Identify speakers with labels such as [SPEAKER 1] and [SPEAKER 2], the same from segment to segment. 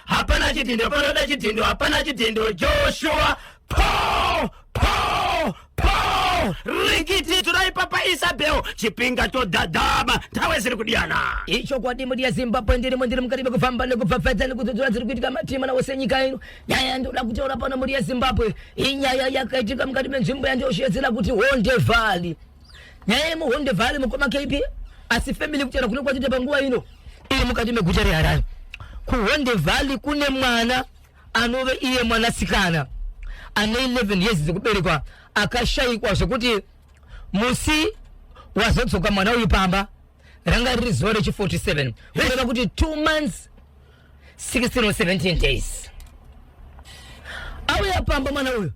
[SPEAKER 1] hapana chidhindo panoda chidhindo hapana chidhindo joshua paul paul paul rikiti turai papa isabel chipinga chodhadhama ntawe ziri kudiyana ichokwadi mudi
[SPEAKER 2] yezimbabwe ndirimo ndiri mukati mekufamba nekupfapfadza nekudzodzora dziri kuitika matima nawo senyika ino nyaya yandinoda kutaura pano mudi yezimbabwe inyaya yakaitika mukati menzvimbo yandioshedzera kuti honde valley nyaya yemuhonde vale mukoma kp asi family kutaura kune kwatite panguva ino iri mukati meguta reharare kuhonde valley kune mwana anove iye mwanasikana ane 11 years dzekuberekwa akashayikwa zvekuti musi wazodzoka mwana uyu pamba ranga riri zuva rechi 47 kureva kuti 2 months 16 or 17 days auya pamba mwana uyu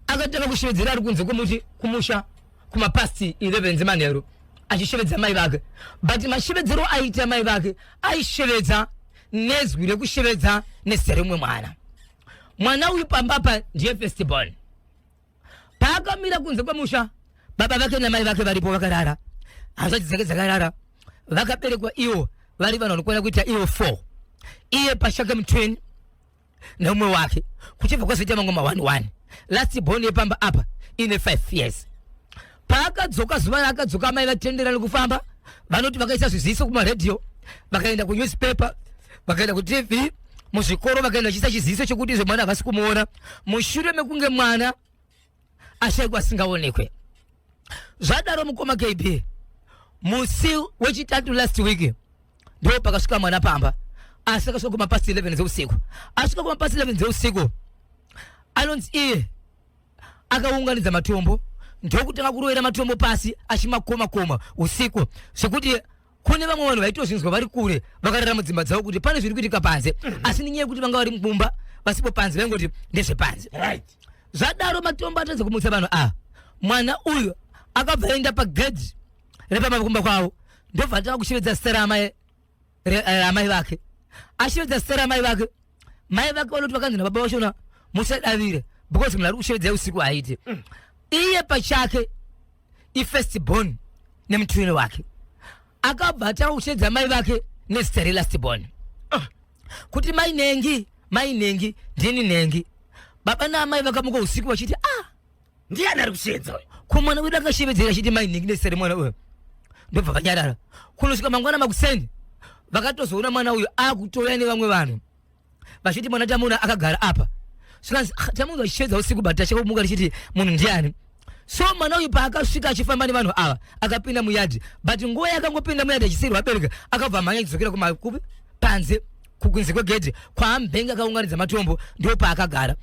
[SPEAKER 2] akatanga kushevedzera ari kunze kumuti kumusha kumapast 11 dzemanheru achishevedza mai vake but mashevedzero aiita mai vake aishevedza nezwi rekushevedza nezita remumwe mwana mwana uyu pamba pa ndiye festival paakamira kunze kwemusha baba vake namai vake varipo vakarara hanzvadzi dzake dzakarara vakaberekwa iwo vari vanhu vanokwana kuita iwo four iye pashake mutweni neumwe wake kuchibva kwazoita mamwe mawani wani last born yepamba apa ine five years paakadzoka zuva raakadzoka amai vatendera nekufamba vanoti vakaisa zviziso kumaredhiyo vakaenda kunewspaper vakaenda kutv muzvikoro vakaenda vachiisa chiziso chekuti izvo mwana havasi kumuona mushure mekunge mwana ashaikwa asingaonekwe zvadaro mukoma kb musi wechitatu last week ndo pakasvika mwana pamba asi akasvika kumapasi 11 dzeusiku asvika kumapasi 11 dzeusiku anonzi iye akaunganidza matombo ndokutanga kurovera matombo pasi achimakoma koma usiku zvekuti kune vamwe vanhu vaitozvinzwa vari kure vakarara mudzimba dzavo kuti pane zviri kuitika panze mhm. asi nenyaya yekuti vanga vari mumba vasipo panze vaingoti ndezvepanze zvadaro matombo atadza kumutsa vanhu ava ah, mwana uyu akabva aenda pagedhi repamakumba kwavo ndobva atanga kushevedza zita raamai eh, vake ashevedza zita raamai vake mai vake vanoti vakanzi nababa vashona musadavire because munhu ari kushevedza usiku haite mm. iye pachake ifirst born nemutwini wake akabva atanga kuchedza mai vake nezita relast born ah. kuti mai nengi mai nengi ndini nengi baba naamai vakamuka usiku vachiti ah ndiani
[SPEAKER 1] ari kushedza uyo kumwana wedu akashevedzera
[SPEAKER 2] achiti mai nengi nezita remwana uyo ndobva vanyarara kunosvika mangwana makuseni vakatozoona mwana uyo akutouya nevamwe vanhu vachiti mwana tamuna akagara apa zvikanzi "Ah, tamuna vachishedza usiku but tacheka kumuka richiti munhu ndiani so mwana uyu paakasvika achifamba nevanhu ava akapinda muyadhi but nguva yakangopinda muyadhi achisiyirwa abereka akabva amhanya achidzokera kumakupi panze kukunze kwegedhi kwaambenge akaunganidza matombo ndipo paakagara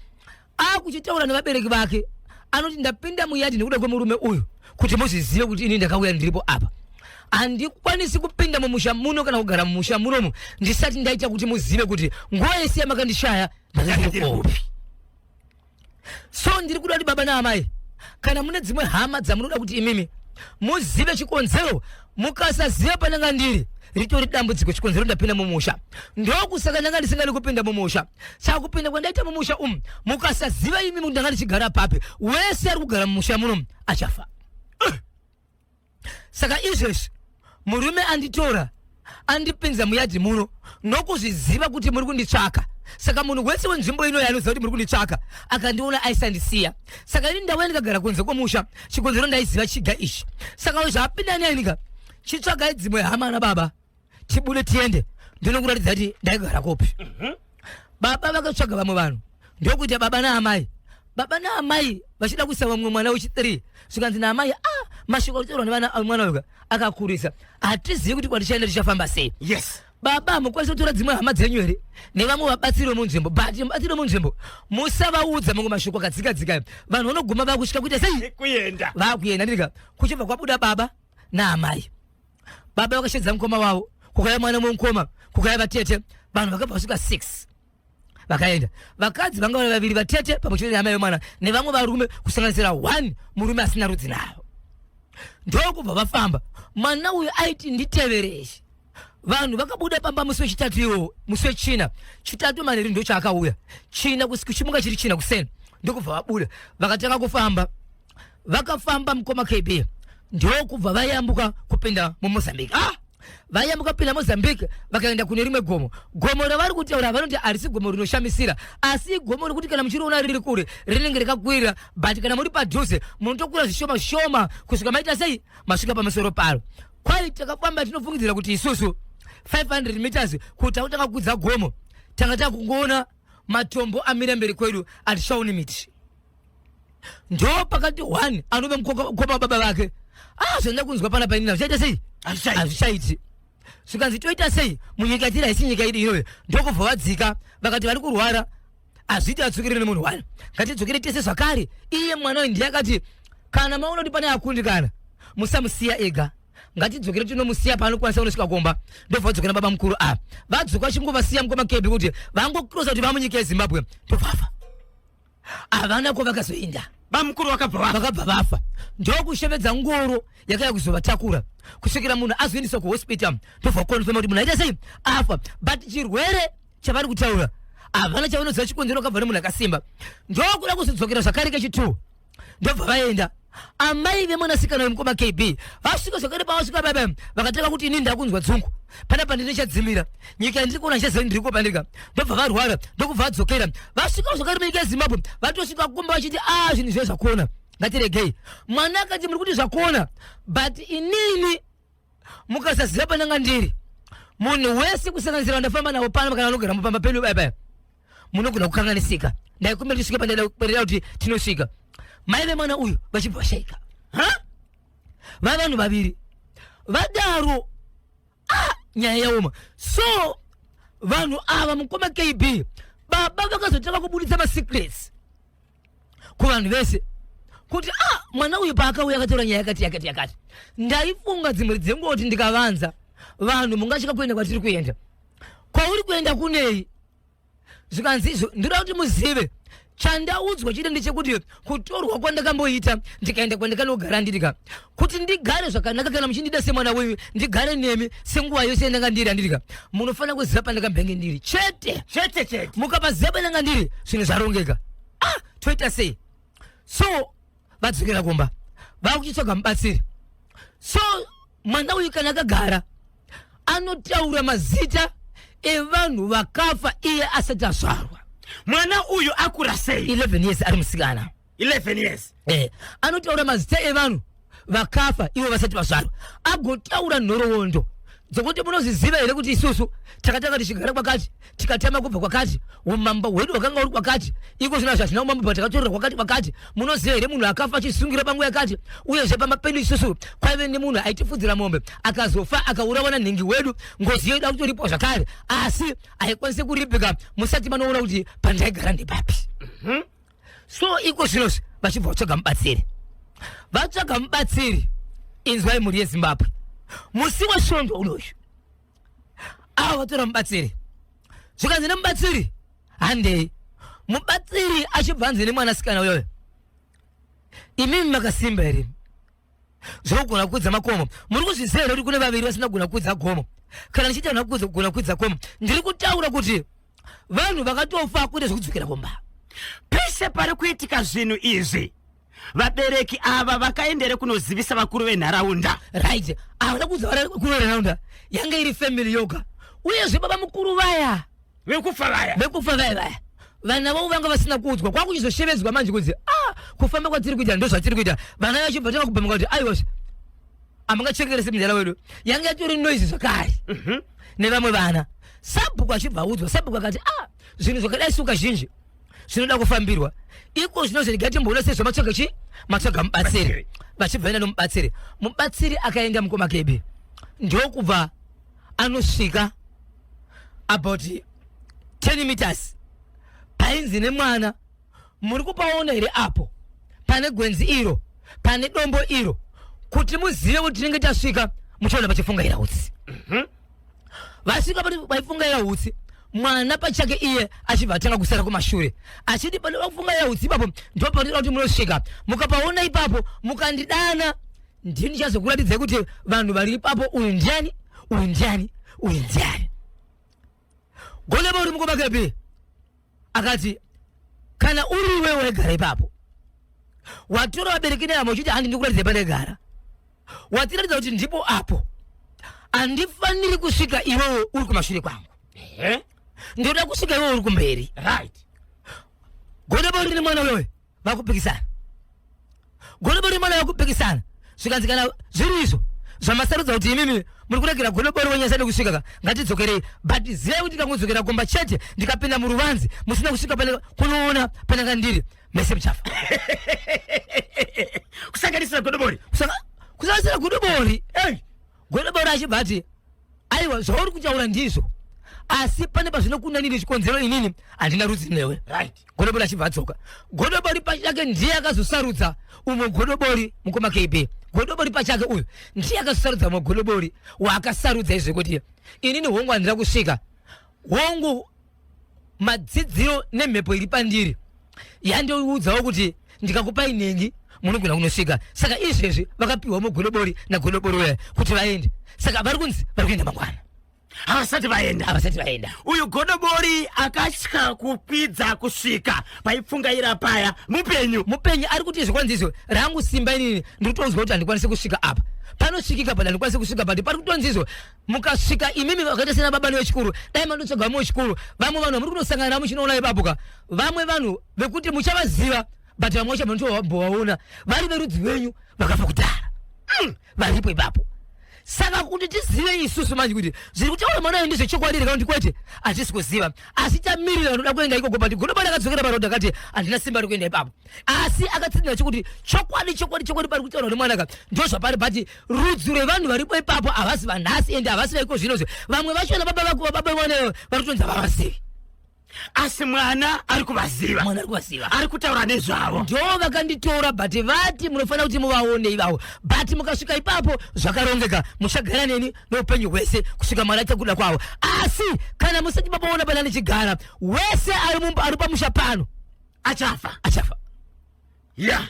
[SPEAKER 2] akuchitaura nevabereki vake anoti ndapinda muyadi nekuda kwemurume uyu kuti muzvizive kuti ini ndakauya ndiripo apa handikwanisi kupinda mumusha muno kana kugara mumusha munomu ndisati ndaita kuti muzive kuti nguva yese yamakandishaya ndakandiopi so ndiri kuda kuti baba naamai kana mune dzimwe hama dzamunoda kuti imimi muzive chikonzero mukasaziva pandanga ndiri ritori dambudziko chikonzero ndapinda mumusha ndokusaka ndanga ndisingadi kupinda mumusha saka kupinda kwandaita mumusha umu mukasaziva imi kuti ndanga ndichigara papi wese ari kugara mumusha muno achafa saka izvezvi murume anditora andipinza muyadhi muno nokuzviziva kuti muri kunditsvaka saka munhu wese wenzvimbo ino yaanoziva kuti muri kunditsvaka akandiona aisandisiya saka ini ndauya ndikagara kunze kwomusha chikonzero ndaiziva chiga ichi saka zvapinda nenika chitsvagai dzimwe hama na baba tibude tiende ndinokuratidza kuti ndaigara kopi mhm. baba vakatsvaga vamwe vanhu ndokuita baba naamai baba naamai vachida kuisa vamwe mwana wechi3 zvikanzi naamai a ah, mashoko atorwa nemwana wega akakurisa hatizivi kuti kwatichaenda tichafamba sei yes baba hamukwanisi kutora dzimwe hama dzenyu here nevamwe vabatsiri vemunzvimbo but vabatsiri vemunzvimbo musavaudza mamwe mashoko akadzika dzika vanhu vanoguma vakusvika kuita sei kuenda vakuenda ndika kuchibva kwabuda baba naamai baba vakashedza mukoma wavo kukaya mwana mumukoma kukaya vatete vanhu vakabva vasvika six vakaenda vakadzi vanga vari vaviri vatete pamwe chete neamai vemwana nevamwe varume kusanganisira one murume asina rudzi navo ndokubva vafamba mwana uyu aiti nditevereshe vanhu vakabuda pamba musi wechitatu iwo musi wechina chitatu manheru ndochaakauya china kuchimuka chiri china kuseni ndokubva vabuda vakatanga kufamba vakafamba mukoma kb ndokubva vayambuka kupinda mumozambique ah! vayambuka kupinda mozambique vakaenda kune rimwe gomo gomo ravari kutaura vanoti harisi gomo rinoshamisira asi igomo rekuti kana muchiriona riri kure rinenge rakakwirira but kana muri padhuze munotokura zvishoma shoma kusvika maita sei masvika pamusoro paro kwai takafamba tinofungidzira kuti isusu 500 meters kuti takutanga kukudza gomo tanga takungoona matombo amira mberi kwedu atichaoni miti ndo pakati one anove mukoma baba vake ah zvanda kunzwa pana painina zvichaita sei hazvichaiti zvikanzi toita sei munyika tiri haisi nyika idi inove ndokubva vadzika vakati vari kurwara hazviti atsukirire nemunhu wani ngatidzokere tese zvakare iye mwana uyu ndiye akati kana maona kuti pane akundikana musamusiya ega ngatidzokere tinomusiya paanokwanisa kunosvika kumba ndobva vadzokera baba mukuru a vadzoka chingovasiya mukoma kebi kuti vangokrosa kuti vamunyika yezimbabwe tobvafa havana kwavakazoenda bamukuru vakabva vafa
[SPEAKER 1] vakabva vafa
[SPEAKER 2] ndokushevedza ngoro yakaya kuzovatakura kusvikira munhu azoendeswa kuhospital ndobva kukonfema kuti munhu aita sei afa but chirwere chavari kutaura havana chavanoziva chikonzero kabva nemunhu akasimba ndokuda kuzodzokera zvakare kechitwo ndobva vaenda amai vemwanasikana wemukoma kb vasvika zvakare pavasvika baba vakatanga kuti ini ndakunzwa dzungu panapa ndine chadzimira nyika yandiri kuona chezeni ndiri kupandika ndobva varwara ndokubva vadzokera vasvika zvakare munyika yezimbabwe vatosvika kumba vachiti a zvinhu zviya zvakuona ngatiregei mwana akati muri kuti zvakuona but inini mukasaziva pandanga ndiri munhu wese kusanganisira vandafamba navo pano kana vanogara mupamba penyu baba munogona kukanganisika ndaikumbira tisvike pandaida kuti tinosvika mai vemwana uyu vachibva vashaika ha vavanhu vaviri vadaro ah, nyaya yaoma so vanhu ava mukoma kb baba vakazotanga kubuditsa masecrets kuvanhu vese kuti ah mwana uyu paakauya akatora nyaya yakati yakati yakati ndaifunga dzimwe dzenguva kuti ndikavanza vanhu mungatya kuenda kwatiri kuenda kwauri kuenda kunei zvikanzi izvo ndoda kuti muzive chandaudzwa chete ndechekuti kutorwa kwandakamboita ndikaenda kwandakanogara ndirika kuti ndigare zvakanaka kana muchindida semwana wenyu ndigare nemi senguva yose yandanga ndiri andirika munofanira kuziva pandakambenge ndiri chete chete chete mukapaziva pandanga ndiri zvinhu zvarongeka ah toita sei so vadzokera kumba vakuchitsvaga mubatsiri so mwana uyu kana akagara anotaura mazita evanhu vakafa iye asati azvarwa mwana uyu
[SPEAKER 1] akura sei 11 years ari musikana
[SPEAKER 2] 11 years
[SPEAKER 1] eh, anotaura
[SPEAKER 2] mazita evanhu vakafa ivo vasati vazvarwa agotaura nhoroondo dzokuti munozviziva here kuti isusu takatanga tichigara kwakati tikatama kubva kwakati umambo hwedu hwakanga uri kwakati iko zvino hazvazvina umambo patakatorera kwakati kwakati munoziva here munhu akafa achisungira panguva yakati uyezve pamba pedu isusu kwaive nemunhu aitifudzira mombe akazofa akaurawa nanhingi wedu ngozi yoida kutoripwa zvakare asi haikwanise kuripika musati manoona kuti pandaigara ndepapi mm -hmm. so iko zvinozvi vachibva vatsvaga mubatsiri vatsvaga mubatsiri inzwai mhuri yezimbabwe musi wesvondo unoyu ava vatora mubatsiri zvikanzi nemubatsiri handei mubatsiri achibva anzi nemwanasikana uyoyo imimi makasimba here zvokugona kukwidza makomo muri kuzviziva here kuti kune vaviri vasina kugona kukwidza gomo kana ndichitaura kugona kukwidza komo ndiri kutaura kuti vanhu vakatofa kuita zvekudzokera kumba pese
[SPEAKER 1] pari kuitika zvinhu izvi vabereki ava vakaendere kunozivisa vakuru venharaunda right havana
[SPEAKER 2] kuudza vakuru venharaunda yange iri family yoga uyezve baba mukuru vaya vekufa vaya
[SPEAKER 1] vekufa vaya vaya
[SPEAKER 2] vana vavo vanga vasina kuudzwa kwakuchizoshevedzwa manje kunzi ah kufamba kwatiri kuita ndo zvatiri kuita vana vacho vatanga kubhamuka kuti aiwasha hamungachekerese mudhara wedu yange yatori noise zvakare mhm. nevamwe vana sabhuku achibva audzwa sabhuku akati ah zvinhu zvakadai suka zhinji zvinoda kufambirwa iko zvino zviga timboona sei zvamatsvaga chi matsvaga mubatsiri vachibva enda nomubatsiri mubatsiri akaenda mukoma kebe ndokubva anosvika about 10 meters painzi nemwana muri kupaona here apo pane gwenzi iro pane dombo iro kuti muzive kuti tinenge tasvika muchaona pachifungaira utsi mhm. vasvika paifungaira utsi mwana pachake iye achibva atanga kusara kumashure achiti panoda kufungaira utsi ipapo ndipo panoda kuti munosvika mukapaona ipapo mukandidana ndini ndichazokuratidzai kuti vanhu vari ipapo uyu ndiani uyu ndiani uyu ndiani goneba uri mukoma kepi akati kana uri iwe waigara ipapo watora vabereki neamo uchiti handi ndikuratidza panegara watiratidza kuti ndipo apo handifaniri kusvika iwewe uri kumashure kwangu ndoda kusvika iwewe uri kumberi right goneba uri nemwana uyoyo vakupikisana golobori mwana vakupikisana zvikanzi kana zviri izvo zvamasarudza kuti imimi muri kuregera golobori wenyasa nekusvika ka ngatidzokerei but zivai kuti ndikangodzokera kumba chete ndikapinda muruvanzi musina kusvika pane kunoona pananga ndiri mese muchafa
[SPEAKER 1] kusanganisira godobori Kusaka- kusanganisira
[SPEAKER 2] godobori Hey, Godobori achibva ati aiwa zvauri kutaura ndizvo asi pane pazvinokunanira chikonzero inini handina rudzi newe right. godobori achibva
[SPEAKER 1] adzoka
[SPEAKER 2] godobori pachake ndiye akazosarudza umwe godobori mukoma kb godobori pachake uyu ndiye akazosarudza umwe godobori waakasarudza izvekuti inini hongu handina kusvika hongu madzidziro nemhepo iri pandiri yandiudzawo kuti ndikakupai nhingi munogona kunosvika saka izvezvi vakapiwa mugodobori nagodobori uya kuti vaende saka vari kunzi vari kuenda mangwana havasati
[SPEAKER 1] vaenda havasati vaenda uyu godobori akatya kukwidza kusvika paipfungaira paya mupenyu mupenyu ari kuti izvo kwanzi
[SPEAKER 2] izvo rangu simba inini ndiri kutonzwa kuti handikwanise kusvika apa panosvikika pa handikwanise kusvika pa pari kutonzi izvo mukasvika imimi vakaita sena baba nevechikuru dai mandotsvaga vamwe vechikuru vamwe vanhu vamuri kunosangana navo muchinoona ipapo ka vamwe vanhu vekuti muchavaziva but vamwe vacho vanotovaona vari verudzi venyu vakafa kudhara mm, varipo ipapo saka kuti tizive isusu manje kuti zviri kutaura mwana ndi zvechokwadi here kana kuti kwete hatisi kuziva asi tamirira anoda kuenda ikoko but godoba rakadzokera paroad akati handina simba rekuenda ipapo asi akatsinira chokuti chokwadi chokwadi chokwadi pari kutaura nemwana ka ndozvapari but rudzi rwevanhu varipo ipapo havasi vanhasi ende havasi vaiko zvino zve vamwe vachona baba vakuva baba vone vari kutonzi havavazivi asi
[SPEAKER 1] mwana ari kuvaziva mwana ari kuvaziva ari kutaura nezvavo ndo vakanditora
[SPEAKER 2] but vati munofanira kuti muvaone ivavo but mukasvika ipapo zvakarongeka muchagara neni noupenyu hwese kusvika mwana aita kuda kwavo asi kana musati mabaona pana ndichigara wese ari mumba ari pamusha pano achafa achafa
[SPEAKER 1] Yeah.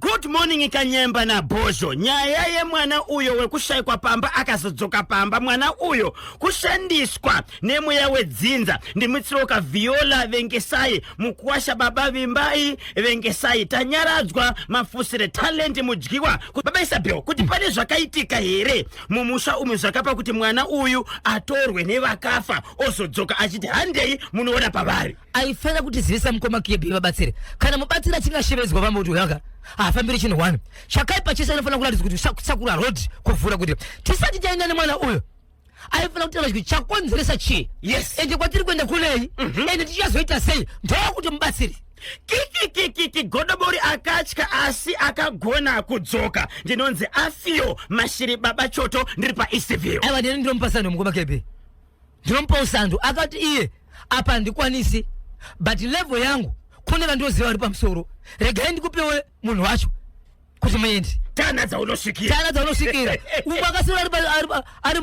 [SPEAKER 1] Good morning Kanyemba na Bozho. Nyaya yemwana uyo wekushaikwa pamba akazodzoka pamba mwana uyo kushandiswa nemweya wedzinza ndimutsiroka Viola Vengesai mukuwasha baba Vimbai Vengesai tanyaradzwa mafusire talent mudyiwa baba Isabel kuti pane zvakaitika here mumusha umu zvakapa kuti mwana uyu atorwe nevakafa ozodzoka achiti handei munoona pavari. aifanira kutizivisa
[SPEAKER 2] mukoma kb vabatsire kana mubatsiri achinge ashevedzwa vamwe kuti uyaka haafambiri chinhu one chakaipa chese anofanira kuratidza kuti sakura rod kuvhura kuti tisati taenda nemwana uyo aifanira kutaura kuti chakonzeresa chii yes ende kwatiri kuenda
[SPEAKER 1] kunei
[SPEAKER 2] mhm. ende tichazoita sei ndokuti mubatsiri kikikikiki
[SPEAKER 1] godobori akatya asi akagona kudzoka ndinonzi afiyo mashiri baba choto ndiri paeastview aiwa ndini ndinomupasana
[SPEAKER 2] nomukoma kb ndinomupa usando akati iye apa handikwanisi but level yangu kune vandoziva vari pamusoro regai ndikupewe munhu wacho kuti muendi tana dzaunosvikira
[SPEAKER 1] tana dzaunosvikira
[SPEAKER 2] umwe akasira ari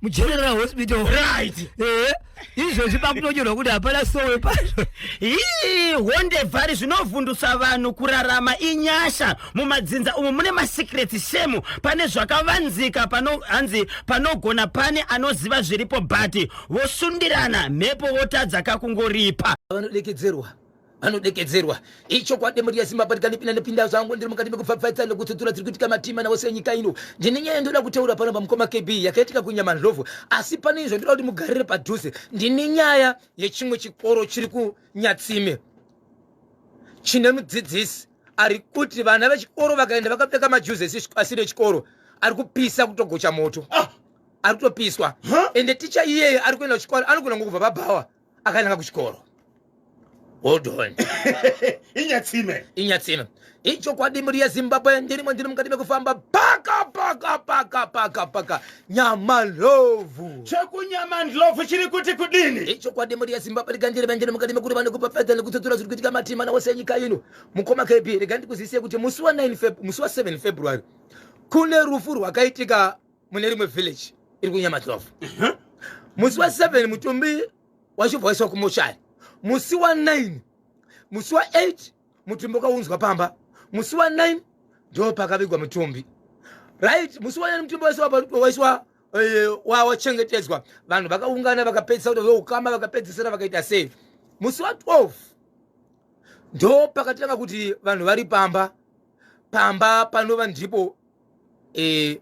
[SPEAKER 2] mugeneral hospital right
[SPEAKER 1] eh, izvozvi
[SPEAKER 2] pakutonyorwa kuti hapana sowe pazvo hii
[SPEAKER 1] honde vhari zvinovhundutsa vanhu kurarama inyasha mumadzinza umu mune masecrets shemu pane zvakavanzika pano hanzi panogona pane anoziva zviripo but vosundirana mhepo votadza kakungoripa vanodekedzerwa vanodekedzerwa
[SPEAKER 2] ichokwadi mhuri yezimbabwe ndikanipinda nepinda zvangu ndiri mukati mekupfapfaitsa nekutsutsura tiri kuitika matima navo senyika ino ndine nyaya ndoda kutaura pano pamukoma kb yakaitika kunyamandlovu asi pane izvo ndoda kuti mugarire padhuze ndine nyaya yechimwe chikoro chiri kunyatsime chine mudzidzisi ari kuti vana vechikoro vakaenda vakapfeka majuzesi asiri echikoro ari kupisa kutogocha moto ah. ari kutopiswa ende ticha iyeye ari kuenda kuchikoro anogona ngokubva pabhawa akananga kuchikoro holdon inyatsime
[SPEAKER 1] inyatsime
[SPEAKER 2] ichokwadi mhuri yezimbabwe ndirimo ndiri mukati mekufamba paka paka paka paka paka nyamandlovu chekunyamandlovu
[SPEAKER 1] chiri kuti kudini ichokwadi mhuri yezimbabwe
[SPEAKER 2] rega ndiri vangene mukati mekuri vane kupafadza nekutsotsora zviri kuitika matimana wose enyika ino mukoma kb rega ndikuzivise kuti musi wa 9 musi wa 7 february kune rufu rwakaitika mune rimwe village iri kunyamandlovu musi wa 7 mutumbi wachibva waiswa kumoshari musi wa 9 musi wa 8 mutumbi wakaunzwa pamba musi wa 9 ndo pakavigwa mutumbi right musi wa 9 mutumbi waiswa eh, wawachengetedzwa vanhu vakaungana vakapedzisa kuti ukama vakapedzisira vakaita sei musi wa 12 ndo pakatanga kuti vanhu vari pamba pamba panova ndipo eh,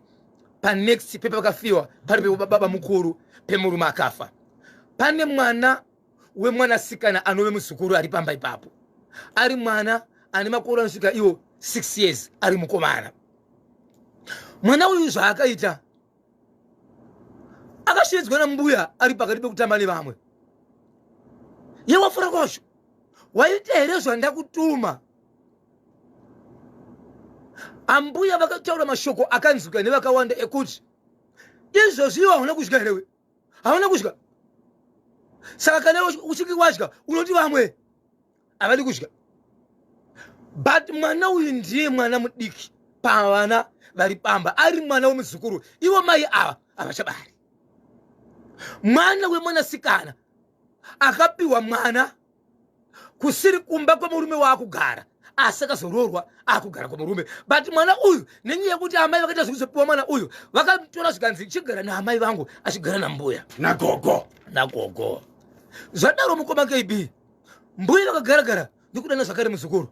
[SPEAKER 3] panext pepakafiwa pari pebaba mukuru pemurume akafa pane mwana wemwanasikana anove muzukuru ari pamba ipapo ari mwana ane makore anosvika iwo 6 years ari mukomana mwana uyu zvaakaita akashedzwa nambuya ari pakati pekutamba nevamwe ye wafura kwazvo waita here zvandakutuma ambuya vakataura mashoko akanzwika nevakawanda ekuti izvozvi iwo hauna kudya herewe havana kudya saka kana uchinge wadya unoti vamwe havadi kudya but mwana uyu ndiye mwana mudiki pavana vari pamba ari mwana wemuzukuru ivo mai ava havachabari mwana wemwanasikana akapiwa mwana kusiri kumba kwemurume waakugara asi akazoroorwa akugara kwemurume but mwana uyu nenyaya yekuti amai vakaita zvekuzopiwa mwana uyu vakatora zvikanzi chigara naamai vangu achigara nambuya nagogo nagogo zvadaro mukoma kb mbuya vakagaragara ndikudana zvakare muzukuru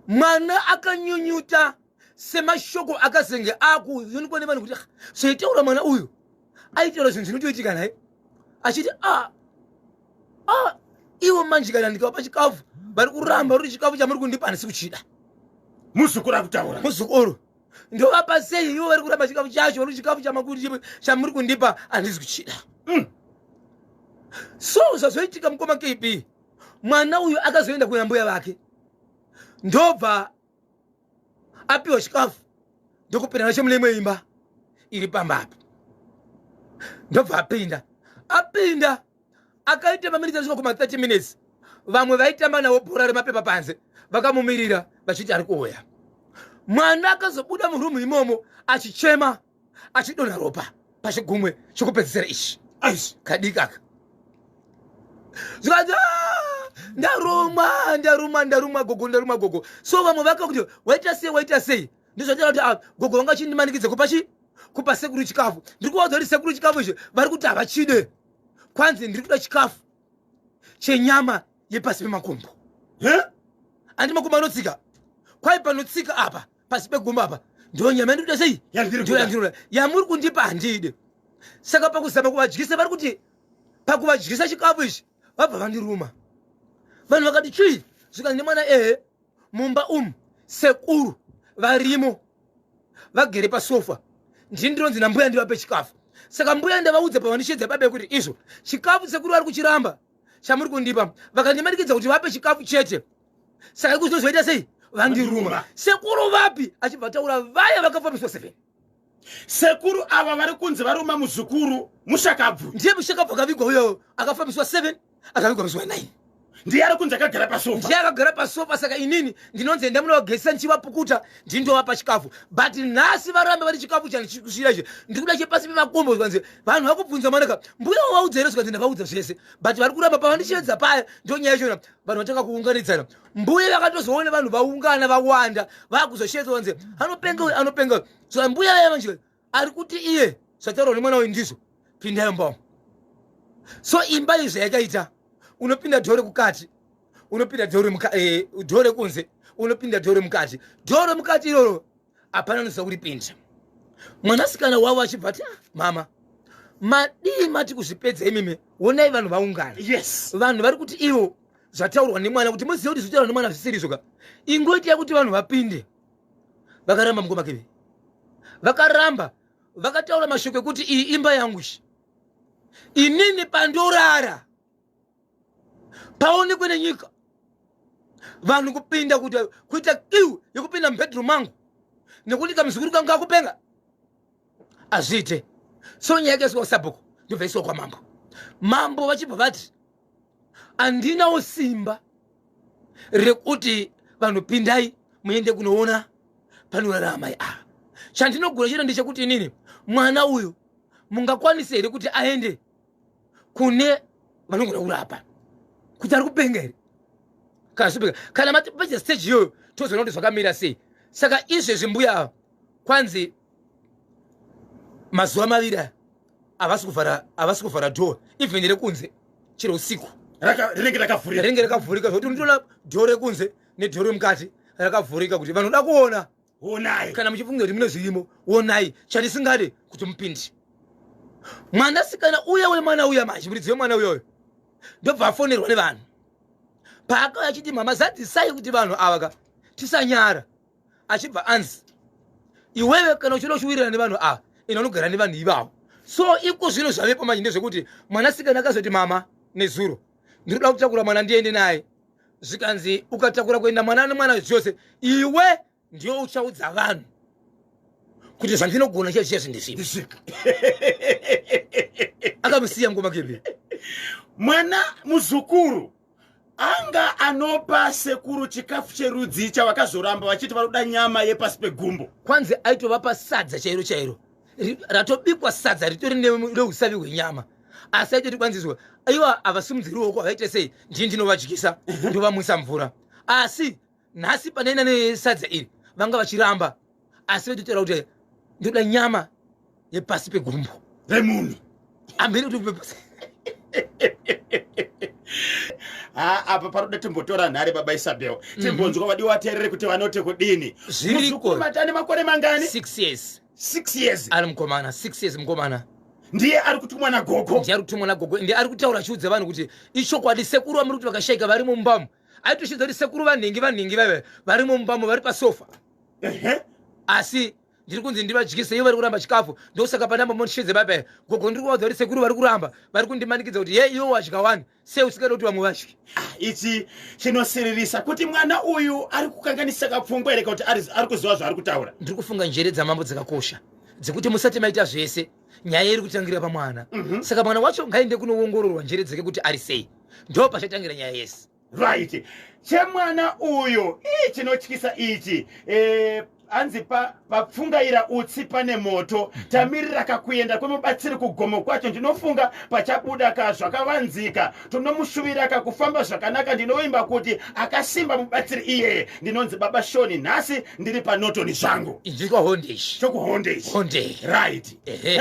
[SPEAKER 3] mwana akanyunyuta semashoko akazenge akuonekwa nevanhu kuti zvaitaura mwana uyu aitaura zvinhu zvinotoitika nhai achiti a ah, a ah, ivo manje kana ndikavapa chikafu vari kuramba ruri chikafu chamuri kundipa handisi kuchida muzukuru
[SPEAKER 1] akutaura muzukuru
[SPEAKER 3] ndovapa sei ivo vari kuramba chikafu chacho ruri chikafu chamuri kundipa handisi kuchida mm. so zvazoitika mukoma kb mwana uyu akazoenda kuna mbuya vake ndobva apiwa chikafu ndokupinda nacho mune imwe imba iri pamba apo ndobva apinda apinda akaita maminitsi asvika kuma 30 minutes vamwe vaitamba navo bhora remapepa panze vakamumirira vachiti ari kuuya mwana akazobuda murumu imomo achichema achidonha ropa pachigumwe chokupedzisira ichi aisi kadiki aka zvikanzi "Ah, ndarumwa ndarumwa ndarumwa gogo ndarumwa gogo so vamwe vaka kuti waita sei waita sei ndizvataura kuti ah, gogo vanga chindimanikidza kupa chi kupa sekuru chikafu ndiri kuvaudza kuti sekuru chikafu izvi vari kuti havachide kwanzi ndiri kuda chikafu chenyama yepasi pemakumbo Eh? andi makumbo anotsika kwai panotsika apa pasi pegumba apa ndonyama ndikuda sei ndoyandirura yamuri kundipa handide saka pakuzama kuvadyisa vari kuti pakuvadyisa chikafu ichi vabva vandiruma vanhu vakati chii zvikanzi nemwana ehe mumba umu sekuru varimo vagere pasofa ndini ndinonzi nambuya ndivape chikafu saka mbuya ndavaudza pavandishedza babe kuti izvo chikafu sekuru vari kuchiramba chamuri kundipa vakandimanikidza kuti vape chikafu chete saka kuzozoita sei vandiruma sekuru vapi achibva ataura vaya vakafambiswa seven sekuru
[SPEAKER 1] ava vari kunzi varuma muzukuru mushakabvu ndiye mushakabvu akavigwa
[SPEAKER 3] uyo akafambiswa seven akavigwa muzuva nine ndiye ari kunzi
[SPEAKER 1] akagara pasofa ndiye akagara pasofa
[SPEAKER 3] saka inini ndinonzi enda munogezisa ndichivapukuta ndindovapa chikafu but nhasi varambe vari chikafu chandichikusvira izvi ndikuda chepasi pemakombo zvanzi vanhu vakubvunza manaka mbuya wavaudza here zvikanzi ndavaudza zvese but vari kuramba pavandichiedza paya ndonyaya chona vanhu vatanga kuunganidzana mbuya vakatozoona vanhu vaungana vawanda vakuzoshetsa vanzi anopenga uyu anopenga uyu so mbuya vaya vanji ari kuti iye zvataurwa nemwana uyu ndizvo pindai mumba so imba izvi zvayakaita unopinda dhore kukati unopinda dhore eh, kunze unopinda dhore mukati dhore mukati iroro hapana anoziva kuti pinda mwanasikana wavo achibva ti ah, mama madii mati kuzvipedza imimi wonai vanhu vaungana yes vanhu vari kuti ivo zvataurwa nemwana kuti moziva kuti zvitaurwa nemwana zvisirizvoka ingoitai kuti vanhu vapinde vakaramba mukoma keve vakaramba vakataura mashoko ekuti iyi imba yangu shi inini pandorara paonekwe nenyika vanhu kupinda kuti kuita kiu yekupinda mubedroom mangu nekuti kamuzukuru kangu kakupenga hazviite so nyaya yakaiswa kusabhuku ndobva iswa kwamambo mambo vachibva vati handinawo simba rekuti vanhu pindai muende kunoona panorara amai ava chandinogona chete ndechekuti inini mwana uyu mungakwanise here kuti aende kune vanogona kurapa kuti ari kupenga here kana zvipenga kana matipedza stage iyoyo tozoona kuti zvakamira sei saka izvezvi mbuya ava kwanzi mazuva maviri aya havasi kuvhara havasi kuvhara door even rekunze chero usiku rinenge rakavhurika
[SPEAKER 1] rinenge rakavhurika
[SPEAKER 3] zvokuti unotoona door rekunze nedhoro remukati rakavhurika kuti vanoda kuona
[SPEAKER 1] onai kana muchifunga kuti mune
[SPEAKER 3] zvirimo onai chandisingade kuti mupinde mwanasikana uya wemwana uya manje muridzi wemwana uyoyo ndobva afonerwa nevanhu paakauya achiti mama zadzisai kuti vanhu ava ka tisanyara achibva anzi iwewe kana uchida uchiwirirana nevanhu ava ina unogara nevanhu ivavo so iko zvino zvavepo manje ndezvekuti mwanasikana akazoti mama nezuro ndiri kuda kutakura mwana ndiende naye zvikanzi ukatakura kuenda mwana nemwana zvose iwe ndiyo uchaudza vanhu kuti zvandinogona chie chie zvindisvika akamusiya ngoma kebe mwana
[SPEAKER 1] muzukuru anga anopa sekuru chikafu cherudzi chavakazoramba vachiti vanoda nyama yepasi pegumbo kwanzi aitovapa
[SPEAKER 3] sadza chairo chairo ratobikwa sadza ritori neusavi hwenyama asi aito tikwanziswa ivo havasimudziri ruoko havaite sei ndii ndinovadyisa ndovamwisa mvura asi nhasi panaina nesadza iri vanga vachiramba asi vaitotaura kuti ndoda nyama yepasi pegumbo remunhu
[SPEAKER 1] amhiri kuti
[SPEAKER 3] upe pasi
[SPEAKER 1] ha apa paroda timbotora nhare baba isabel mhm. timbonzwa vadi waterere kuti vanote kudini zvirikumatane
[SPEAKER 3] makore mangani
[SPEAKER 1] six years six
[SPEAKER 3] years ari
[SPEAKER 1] mukomana six
[SPEAKER 3] years mukomana ndiye ari kutumwa
[SPEAKER 1] nagogo ndiye ari kutumwa nagogo ndiye
[SPEAKER 3] ari kutaura achiudza vanhu kuti ichokwadi sekuru vamuri kuti vakashaika vari mumbamu aitoshinza kuti sekuru vanhingi vanhingi vaive vari mumbamu vari pasofa asi ndiri kunzi ndivadyise ivo vari kuramba chikafu ndosaka panamba motisvedze baba ya gogo ndiri kuvaudza kuti sekuru vari kuramba vari kundimanikidza kuti ye iwo wadya wani sei usingada kuti vamwe vadyi ah, ichi
[SPEAKER 1] chinosiririsa kuti mwana uyu ari kukanganisa kapfungwa here kuti ari kuziva zvaari kutaura ndiri kufunga njere dzamambo
[SPEAKER 3] dzakakosha dzekuti musati maita zvese nyaya iri kutangira pamwana mhm. saka mwana wacho ngaende kunoongororwa njere dzake kuti ari sei ndo pachatangira nyaya yese right
[SPEAKER 1] chemwana uyo ii chinotyisa ichi e, anzi papfungaira pa utsi pane moto mhm. tamirira kakuenda kwemubatsiri kugomo kwacho ndinofunga pachabuda ka zvakavanzika tonomushuvira ka kufamba zvakanaka ndinovimba kuti akasimba mubatsiri iyeye ndinonzi baba shoni nhasi ndiri panotoni zvangu
[SPEAKER 3] chokuhondei right
[SPEAKER 1] hey.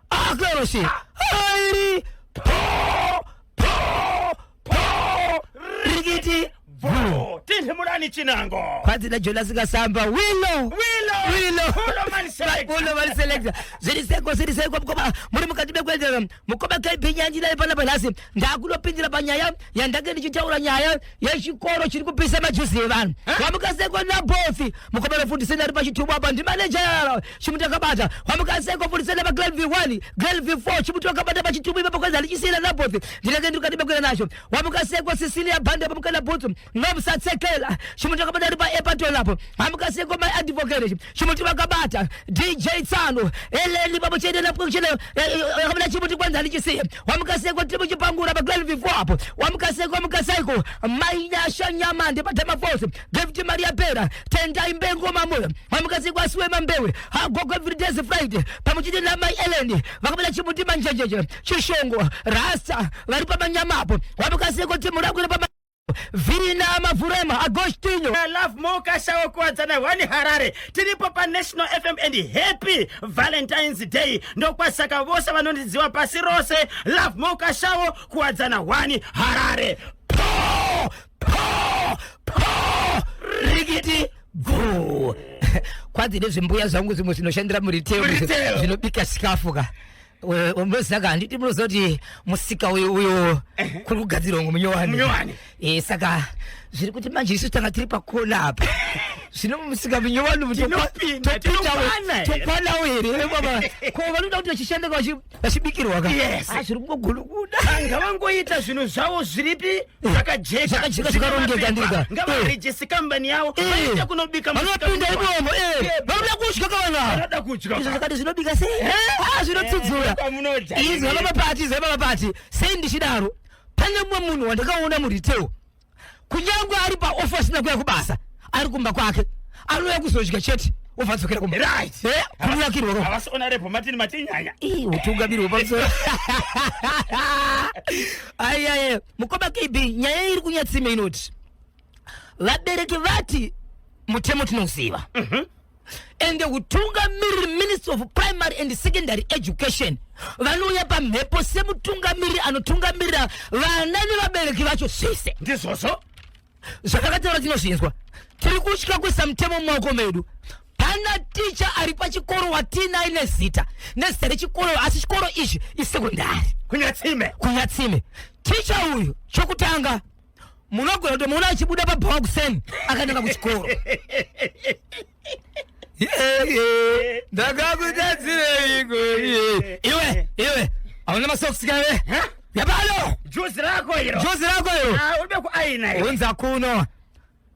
[SPEAKER 2] Ah, claro sí. Airi. Po, po, po. Rigiti. Bro, tindi
[SPEAKER 1] mulani chinango. Kwanzi na Jonas
[SPEAKER 2] Kasamba. Willow. Willow. Willow. Willow man select. Willow man select. Ziri seko, ziri seko. Mkoba, muri mukati bekwendera. Mkoba kaipi nyanji na ipana panasi. ndakunopindira panyaya yandange ndichitaura nyaya yechikoro chiri kupisa majuzi evanhu wamuka seko nabothi mukomana fundiseni ari pachitubu apa ndimaneja yaro chimuti akabata wamuka seko fundiseni apa grade v1 grade v4 chimuti akabata pachitubu ipapo kwanzi handichisiyana nabothi ndinenge ndiri kukati bekwira nacho wamuka seko sicilia bhandi apa mukana bhutsu ngamusatsekela chimuti akabata ari paepato lapo hamukaseko mai advocate chimuti vakabata dj tsano eleni papo chete lapo chete akabata chimuti kwanza ndichisiye wamukaseko tiri muchipangura pa 12 before apo wamukaseko mukasaiko mai nyasha nyamande patama force david maria pera tendai mbengo mamoyo wamukaseko asiwe mambewe hagogo every days friday pamwe chete namai eleni vakabata chimuti manjenjenje chishongo rasta vari pamanyama apo wamukaseko timu rakwira pama Virina Mavurema Agostinho I love more kashawo
[SPEAKER 1] kuwadzana wani harare tiripo panational fm and happy valentines day ndokwasaka vose vanondiziva pasi rose love more kashawo kuwadzana wani harare po
[SPEAKER 2] po po rikiti bvuu kwanzi nezvimbuya zvangu zvimwe zvinoshandira muriteyo Muriteyo. zvinobika sikafu ka munosaka handiti munoziva kuti musika uyu uyo kuri kugadzirwa ngo munyowani e, saka zviri kuti manje isu tanga tiri pakona apa zvino musika munyowani mutokwanavo here ko vanoda kuti vachishanda vachibikirwa ka ah, zviri kungogunukuda anga vangoita
[SPEAKER 1] zvinhu zvavo zviripi Eh, zvakajeka zvakajeka zvakarongeka ndika
[SPEAKER 2] eh. ngavarejesi kambani
[SPEAKER 1] yavo eh. vaita kunobika vanopinda imomo
[SPEAKER 2] vanoda kudya kavanoda kudya
[SPEAKER 1] izvo zvakati zvinobika sei
[SPEAKER 2] ah, zvinotsudzura izvo vamapati izvo vamapati sei ndichidaro pane mumwe munhu wandakaona muritewo kunyange ari paofa asina kuya kubasa ari kumba kwake anouya kuzodya chete obva adzokera kumba right Eh, kunakirwa ropa havasiona repo
[SPEAKER 1] matini matinyanya Ih, utungamiri
[SPEAKER 2] hwepamusoro ayaye mukoma kb nyaya iri kunyatsime inoti vabereki vati mutemo tinouziva and the utungamiriri minister of primary and secondary education vanouya pamhepo semutungamiriri anotungamirira vana nevabereki vacho zvese ndizvozvo
[SPEAKER 1] zvakataura
[SPEAKER 2] tinozvinzwa tiri kutya kuisa mutemo mumaoko medu pana ticha ari pachikoro watiinaye nezita nezita rechikoro asi chikoro ichi isekondari kunyatsime kunyatsime ticha uyu chokutanga munogona kutomuona achibuda pabhawa kuseni akananga kuchikoro ndakakudadzireiko iye iwe iwe hauna masokisi kave yapano juzi rako
[SPEAKER 1] iro juzi rako iro Ah, uri bekuaina iro unza kuno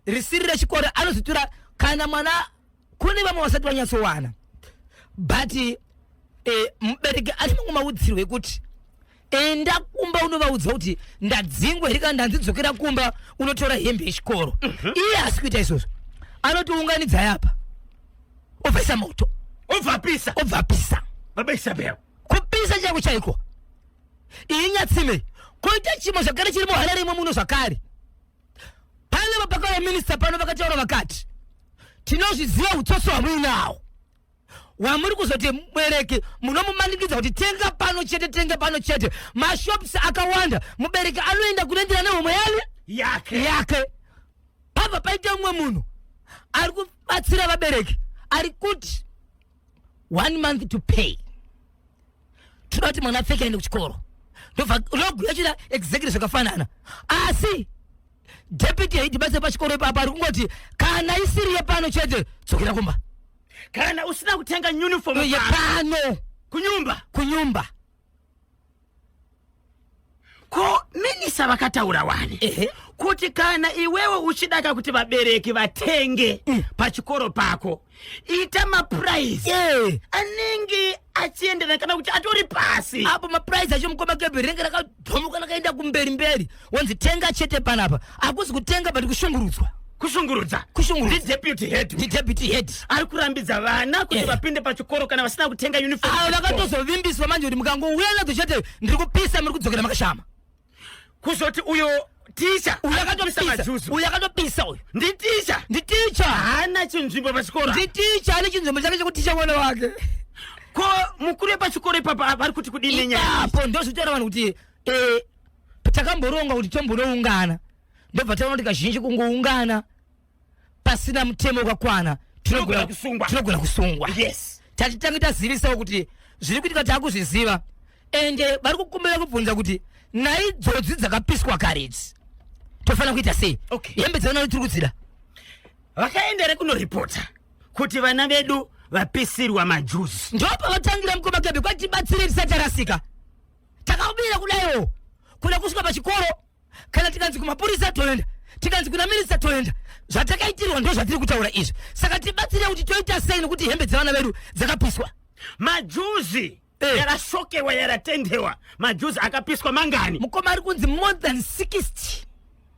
[SPEAKER 2] risiri rechikoro anozotura kana mwana kune vamwe vasati vanyatsowana but eh, mubereki ati mangomaudzirwe kuti enda kumba unovaudza kuti ndadzingwa here kana ndanzidzokera kumba unotora hembe yechikoro mhm. iye asi kuita izvozvo anotiunganidzai apa obvaisa moto obvapisa obvapisa baba isabel kupisa chako chaiko iyi nyatsime koita chimwe zvakare chiri muhara rimwe muno zvakare pave vapakava minista pano vakataura vakati tinozviziva utsotsi hwamuinawo wamuri kuzoti mubereki munomumanikidza kuti tenga pano chete tenga pano chete mashops akawanda mubereki anoenda kunoendera nehomwe yani yake yake pabva paita umwe munhu ari kubatsira vabereki ari kuti one month to pay toda kuti mwana apfeke aende kuchikoro ndoguya chida exactly zvakafanana asi deputy haidibase pachikoro ipapo ari kungoti kana isiri yepano chete dzokera kumba kana usina
[SPEAKER 1] kutenga uniform Uye pano pano
[SPEAKER 2] kunyumba kunyumba
[SPEAKER 1] ko minisa vakataura wani Ehe. kuti kana iwewe uchidaka kuti vabereki vatenge Mm. pachikoro pako ita mapuraizi Eh, anenge achienderana kana kuti atori pasi apo mapuraizi acho
[SPEAKER 2] mukoma kebhi rinenge raka Domuka lakaenda kumberi mberi wonzi tenga chete panapa akuzi kutenga but kushungurudzwa kushungurudza kushungurudza ndideputy head ndideputy head ari kurambidza
[SPEAKER 1] vana kuti yeah. vapinde pachikoro kana vasina kutenga uniform avo vakatozovimbiswa manje
[SPEAKER 2] kuti mukangouya nadzo chete ndiri kupisa muri kudzokera makashama kuzoti
[SPEAKER 1] uyo ticha uyu akatopisa majuzu
[SPEAKER 2] uyu akatopisa uyu nditicha
[SPEAKER 1] nditicha haana chinzvimbo pachikoro nditicha ane chinzvimbo
[SPEAKER 2] chake chekuticha mwana wake ko
[SPEAKER 1] mukuru wepachikoro ipapa vari kuti kudii nenyaya ipapo ndozvitaura vanhu kuti
[SPEAKER 2] eh, takamboronga kuti tombonoungana ndobva taona kuti kazhinji kungoungana pasina mutemo wakakwana tinogona kusungwa tinogona kusungwa yes tatitange tazivisawo kuti zviri kuitika takuzviziva ende eh, vari kukumbira kubvunza kuti nhai dzodzi dzakapiswa kare idzi tofanira kuita sei okay. hembe dzavana tiri kudzida vakaendere
[SPEAKER 1] kunoripota kuti vana vedu vapisirwa majuzi ndo pavatangira
[SPEAKER 2] mukoma gebe kwati tibatsire tisatarasika takabira kudaiwo kuda kusvika pachikoro kana tikanzi kumapurisa toenda tikanzi kuna minista toenda zvatakaitirwa ndo zvatiri kutaura izvi saka tibatsire kuti toita sei nekuti hembe dzevana vedu dzakapiswa majuzi
[SPEAKER 1] Eh. yarasokewa yaratendewa majuzi akapiswa mangani mukoma ari kunzi more
[SPEAKER 2] than 60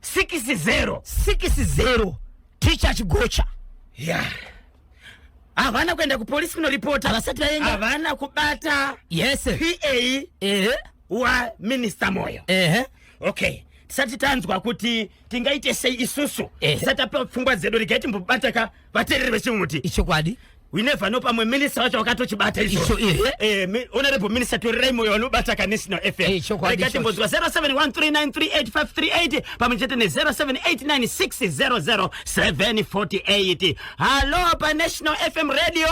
[SPEAKER 2] sikisi zero 60 ticha chigocha ya
[SPEAKER 1] havana kuenda kupolisi kunoripota Havasati vaenda. havana
[SPEAKER 2] kubata
[SPEAKER 1] yes pa ehe waminista moyo ehe okay tisati tanzwa kuti tingaite sei isusu Eh. tisati tapiwa pfungwa dzedu regai timbobataka vateereri vechimuti ichokwadi we never know pamwe minista wacho wakatochibata Icho, izvo ehe. Eh,
[SPEAKER 2] mi- honorable
[SPEAKER 1] minister torirai moyo vanobata ka national fm Eh, chokwadi Regai ichocho. timbonzwa 0713938538 pamwe chete ne0789600748 halo pa national fm radio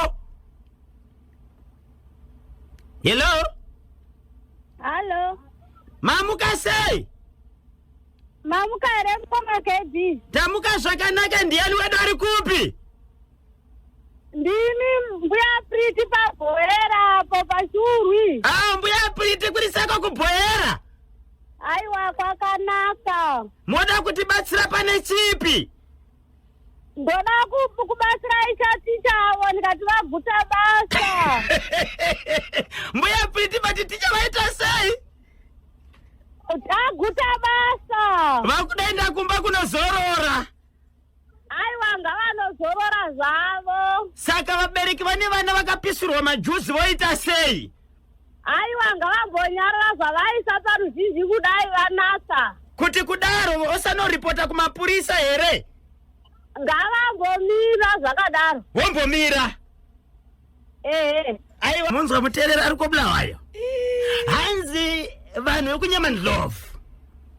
[SPEAKER 1] hello Halo. mamuka sei
[SPEAKER 4] Mamuka here mukoma KB? tamuka zvakanaka
[SPEAKER 1] ndiyani wedu ari kupi Ndini
[SPEAKER 4] mbuya Priti pabhoera apo pashurwi. ah mbuya priti
[SPEAKER 1] kuri seko kubhoyera Aiwa
[SPEAKER 4] kwakanaka. moda
[SPEAKER 1] kutibatsira pane chipi
[SPEAKER 4] ndoda ku- kubatsira ichaticha avo ndikati vagutsa basa
[SPEAKER 1] mbuya piti vati ticha vaita sei
[SPEAKER 4] agutsa basa vakudaenda kumba
[SPEAKER 1] kunozorora
[SPEAKER 4] aiwa ngavanozorora zvavo saka vabereki
[SPEAKER 1] vane vana vakapisirwa majuzi voita sei aiwa
[SPEAKER 4] ngavambonyarara zvavaisa paruzhinji kudai vanasa kuti kudaro
[SPEAKER 1] osanoripota kumapurisa here ngavambomira
[SPEAKER 4] zvakadaro wombomira
[SPEAKER 1] ehe aiwa munzwa muterera ari kwobulawayo hanzi vanhu vekunyama ndlovu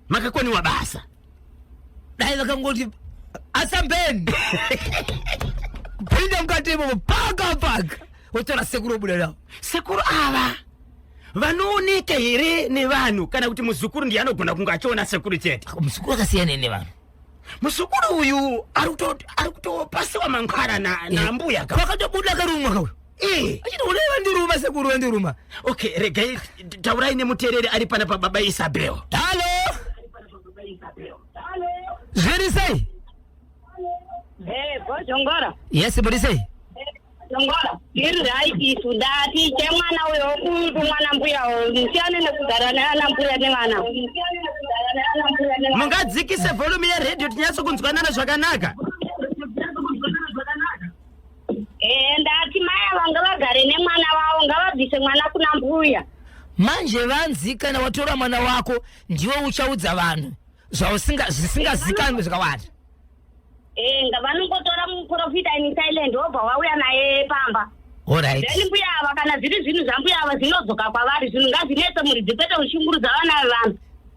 [SPEAKER 1] makakoniwa basa dai
[SPEAKER 2] vakangoti asambeni pinda mukati imomo paka paka wotora sekuru obuda navo sekuru ava
[SPEAKER 1] vanooneka here nevanhu kana kuti muzukuru ndiye anogona kunge achiona sekuru chete muzukuru akasiyana
[SPEAKER 2] nevanhu muzukuru
[SPEAKER 1] uyu ari kuto- ari kutopasiwa mangwara na- nambuya ka- kwakatobuda karumwa kauyo
[SPEAKER 2] Eh. achiti unai vandiruma sekuru vandiruma okay regai
[SPEAKER 1] t- taurai nemutereri ari pana pababa isabel halo
[SPEAKER 2] zviri sei Eh,
[SPEAKER 4] bozhongora yes muri sei
[SPEAKER 2] bozhongora
[SPEAKER 4] iri right isu dati chemwana uyo wokutu mwana mbuya uyo musiyane nekugara neana mbuya nevana
[SPEAKER 1] mungadzikise volume yeredio tinyatso kunzwanana zvakanaka
[SPEAKER 4] Eh, ndati mai ava ngavagare nemwana wavo ngavabvise mwana kuna mbuya manje
[SPEAKER 2] vanzi kana watora mwana wako ndiwe uchaudza vanhu zvausinga- zvisingazikanwi zvakawanda Eh, nga- vanongotora
[SPEAKER 4] muprofita in silent wobva wauya naye pamba olright then mbuya
[SPEAKER 2] ava kana
[SPEAKER 4] zviri zvinhu zvambuya ava zvinodzoka kwavari zvinhu ngazvinetse muridzi kwete kushungurudza vana vevanhu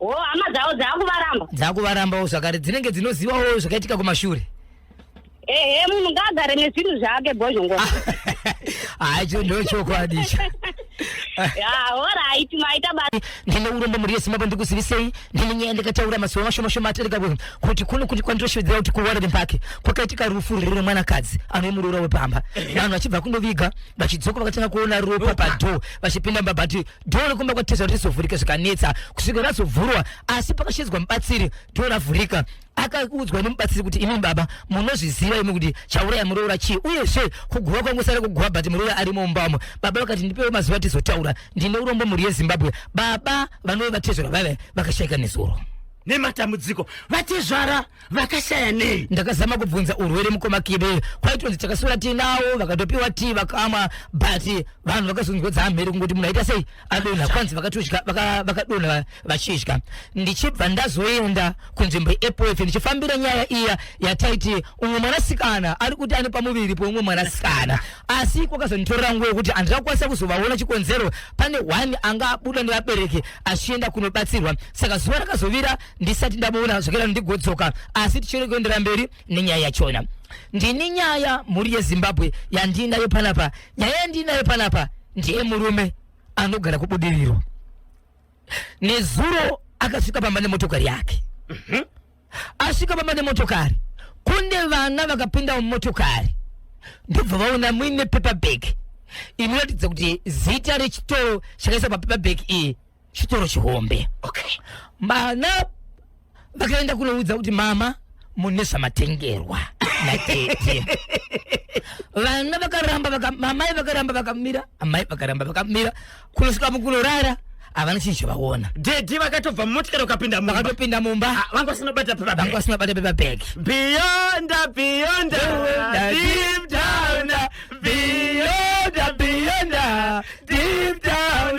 [SPEAKER 2] wo
[SPEAKER 4] hama dzavo dzakuvaramba dzakuvarambawo
[SPEAKER 2] zvakare dzinenge dzinozivawo zvakaitika kumashure ehe
[SPEAKER 4] munhu ngaagare nezvinhu zvake bhozhongo
[SPEAKER 2] hacho ndo chokwadi icho horaiti
[SPEAKER 4] maita basa ndine urombo mhuri yezimbabwe
[SPEAKER 2] ndikuzivisei ndine nyaya ndikataura mazuva mashomashoma atarika kuno kuti kuno kuti kwandinoshevedzera kuti kuwarden park kwakaitika rufu riri remwanakadzi anove muroora wepamba vanhu vachibva kundoviga vachidzoka vakatanga kuona ropa Ropa. padhoo vachipinda mumba but dhoo rekumba kwatezva kuti rizovhurika zvikanetsa kusvika razovhurwa asi pakashedzwa mubatsiri dhoo ravhurika akaudzwa nemubatsiri kuti imi baba munozviziva imi kuti chauraya muroora chii uyezve kuguva kwangosara kuguva but muroora ari mumbamo baba vakati ndipewo mazuva tizotaura ndine urombo mhuri yezimbabwe baba vanove vatezvara vave vakashaika nezuro nematambudziko
[SPEAKER 1] vatezvara vakashaya nei ndakazama kubvunza
[SPEAKER 2] urwere mukoma kibe kwaitonzi takasura tinawo vakatopiwa ti vakamwa but vanhu vakazonzwa dzamhere kungoti munhu aita sei adonha kwanzi vakatodya vakadonha vachidya ndichibva ndazoenda kunzvimbo yeapoefe ndichifambira nyaya iya yataiti umwe mwanasikana ari kuti ane pamuviri poumwe mwanasikana asi kwakazonditorera nguva yekuti handina kukwanisa kuzovaona chikonzero pane one anga abuda nevabereki achienda kunobatsirwa saka zuva rakazovira ndisati ndamuona zvokera ndigodzoka asi tichiri kuendera mberi nenyaya yachona ndini nyaya mhuri yezimbabwe yandiinayo panapa nyaya yandiinayo panapa ndiye murume anogara kubudiriro nezuro akasvika pamba nemotokari yake mhm. asvika pamba nemotokari kune vana vakapinda mumotokari ndobva vaona muine paperbag inoratidza kuti zita rechitoro chakaisa papaperbag iyi chitoro chihombe okay.
[SPEAKER 1] mana
[SPEAKER 2] vakaenda kunoudza kuti mama mune zvamatengerwa natete vana vakaramba vaka, mamai vakaramba vakamira amai vakaramba vakamira kunosvika mukunorara havana chinhu chavaona dedi vakatobva
[SPEAKER 1] mumotikari ukapinda vakatopinda mumba ah, vanga
[SPEAKER 2] vasina bata pepa
[SPEAKER 1] vanga vasina bata pepa
[SPEAKER 2] bag beyond
[SPEAKER 1] beyond deep down beyond beyond deep down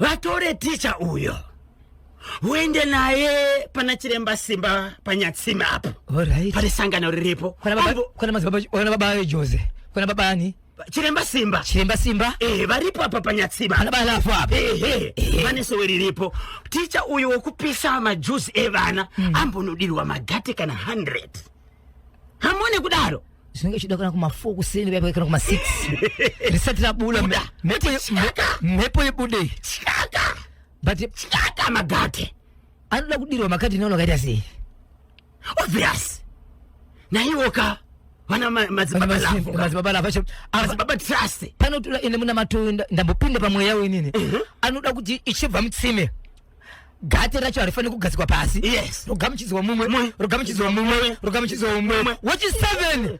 [SPEAKER 1] vatore ticha uyo uende naye pana chiremba simba panyatsime apo Alright. pane sangano
[SPEAKER 2] riripo
[SPEAKER 1] Kwana baba- Aivo- kwana madzibaba-
[SPEAKER 2] kwana baba vejose kwana baba ani chiremba simba
[SPEAKER 1] chiremba simba Eh, varipo apa panyatsime ana bala apo apa ehe
[SPEAKER 2] Ehe. pane sowe
[SPEAKER 1] riripo ticha uyu wekupisa majuzi evana ambonodirwa magate kana 100 hamone kudaro zvinenge zvichida kana kuma
[SPEAKER 2] 4 kuseni vaipa kana kuma 6 risati rabula mhepo yebude chaka
[SPEAKER 1] but chaka
[SPEAKER 2] magate
[SPEAKER 1] anoda kudirwa
[SPEAKER 2] makati naona kaita sei obvious
[SPEAKER 1] naiwoka vana madzibaba lavo madzibaba lavo acho
[SPEAKER 2] madzibaba trust
[SPEAKER 1] panotura ende muna
[SPEAKER 2] matoenda ndambopinda pamweya wenini mhm. anoda kuti ichibva mutsime gate racho harifaniri kugadzikwa pasi yes rogamuchidzwa
[SPEAKER 1] mumwe
[SPEAKER 2] rogamuchidzwa mumwe rogamuchidzwa mumwe wechi seven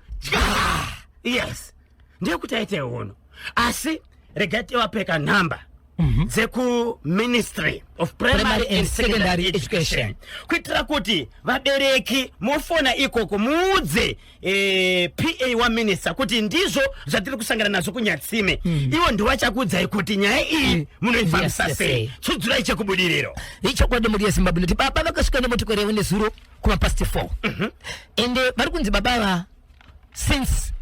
[SPEAKER 1] yes ndeyekuti aite hono asi regai tiwapeka nhamba mhm. dzekuministry of primary and secondary education kuitira kuti vabereki mofona ikoko muudze eh, pa waminista kuti ndizvo zvatiri kusangana nazvo kunyatsime mm. ivo ndivachakuudzai kuti nyaya iyi mm. munoifambisa yes, sei yes, tsudzurai chekubudiriro ichokwadi mhuri
[SPEAKER 2] yezimbabwe noti baba vakasvika nemotokari yavo nezuro kumapast 4 mm -hmm. ende eh, vari kunzi baba ava since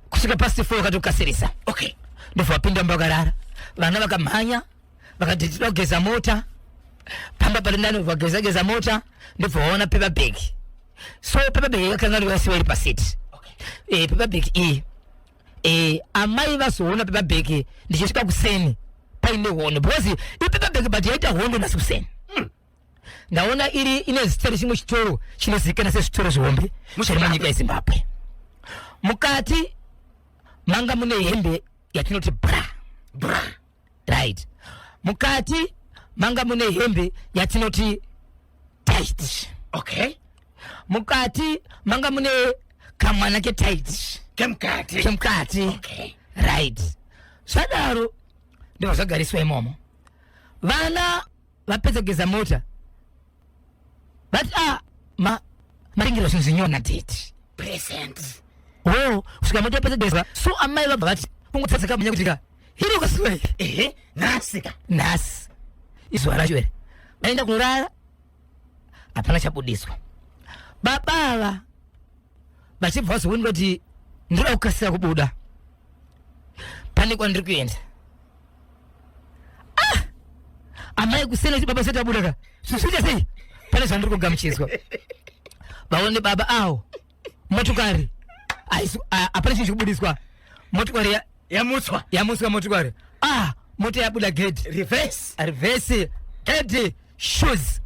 [SPEAKER 2] kusvika past 4 vakatokasirisa okay ndobva
[SPEAKER 1] vapinda
[SPEAKER 2] mbakarara vana vakamhanya vakati tinoda kugeza mota pamba pari nani vageza geza mota ndobva vaona paper bag so paper bag yakanga rivasiwa iri pasit okay. e, eh, paper bag iyi e, amai vazoona paper bag ndichisvika kuseni paine hondo because ipaper bag but yaita hondo nasi kuseni hmm. ndaona iri ine zita rechimwe chitoro chinozikana sezvitoro zvihombe zviri munyika yezimbabwe mukati manga mune hembe yatinoti bra bra right mukati manga mune hembe yatinoti tight okay
[SPEAKER 1] mukati
[SPEAKER 2] manga mune kamwana ketight kemukati kemukati okay.
[SPEAKER 1] right
[SPEAKER 2] zvadaro ndivazvagariswa imomo vana vapedza kugeza mota vati ah, ma maringiro zvinzinyona date present
[SPEAKER 1] oh
[SPEAKER 2] kusvika mota yapedza kugeza so amai vabva vati kungotsatsika munya kuti ka hiri ukasiwei ehe nhasi ka
[SPEAKER 1] nhasi
[SPEAKER 2] izuva racho here vaenda kunorara hapana chabudiswa baba ava vachibva vazooneka kuti ndinoda kukasira kubuda pane kwandiri kuenda ah! amai kusena kuti baba sati abuda ka zvizoita sei pane zvandiri kugamuchidzwa vaone baba awo motokari hapana chinhu chikubudiswa motokari yamutswa yamutswa motokari ah mota yabuda gedi reverse reverse gedi shoes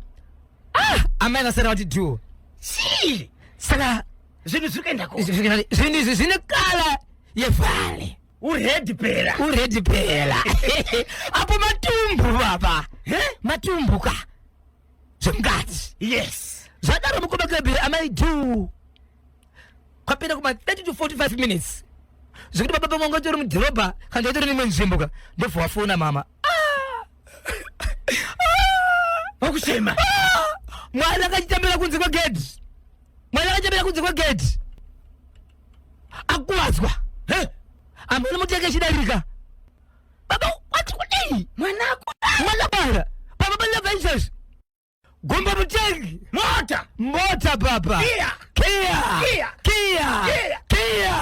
[SPEAKER 2] ah amai vasara vati duo chii saka zvinhu zviri
[SPEAKER 1] kuenda ko zvinhu izvi zvine
[SPEAKER 2] kala yevhale uredi pera
[SPEAKER 1] uredi pera
[SPEAKER 2] apo matumbu baba matumbu ka zvemukati yes
[SPEAKER 1] zvadaro mukoma kebhiri
[SPEAKER 2] amai du kwapera kuma 30 to 45 minutes zvekuti baba pamwe ngatori mudhorobha kana ndatori mimwe nzvimbo ka ndobva wafona mama
[SPEAKER 1] wakuchema
[SPEAKER 2] mwana akachitambira kunze kwegedhi mwana akachitambira kunze kwegedhi akuvadzwa amene mutenge chidarika baba wati kudii mwana mwana bara baba banyabvaizvazvi gomba mutengi mota mota baba kia kia kia kia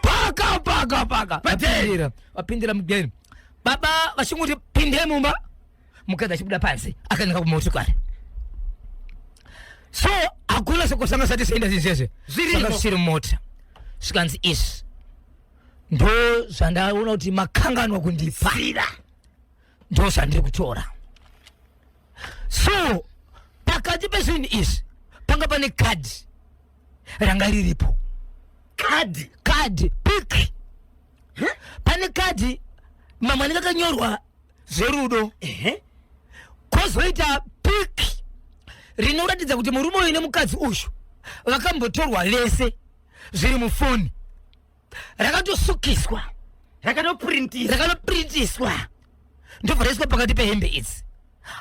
[SPEAKER 2] paka paka paka vapindira vapindira mugeni baba vachinguti pinde mumba mukadzi achibuda panze akananga kumotikari so hakuna sekosanga sati senda zizeze zviri mota zvikanzi izvi ndo zvandaona kuti makanganwa kundipira ndo zvandiri kutora so pakati pezvinhu izvi panga pane kadhi ranga riripo kadhi kadhi piki pane kadhi mamwe anenge akanyorwa zverudo kozoita piki rinoratidza kuti murume uyu nemukadzi uyu vakambotorwa vese zviri mufoni rakatosukiswa rakanopurintiswa rakanopurintiswa ndobva raiswa pakati pehembe idzi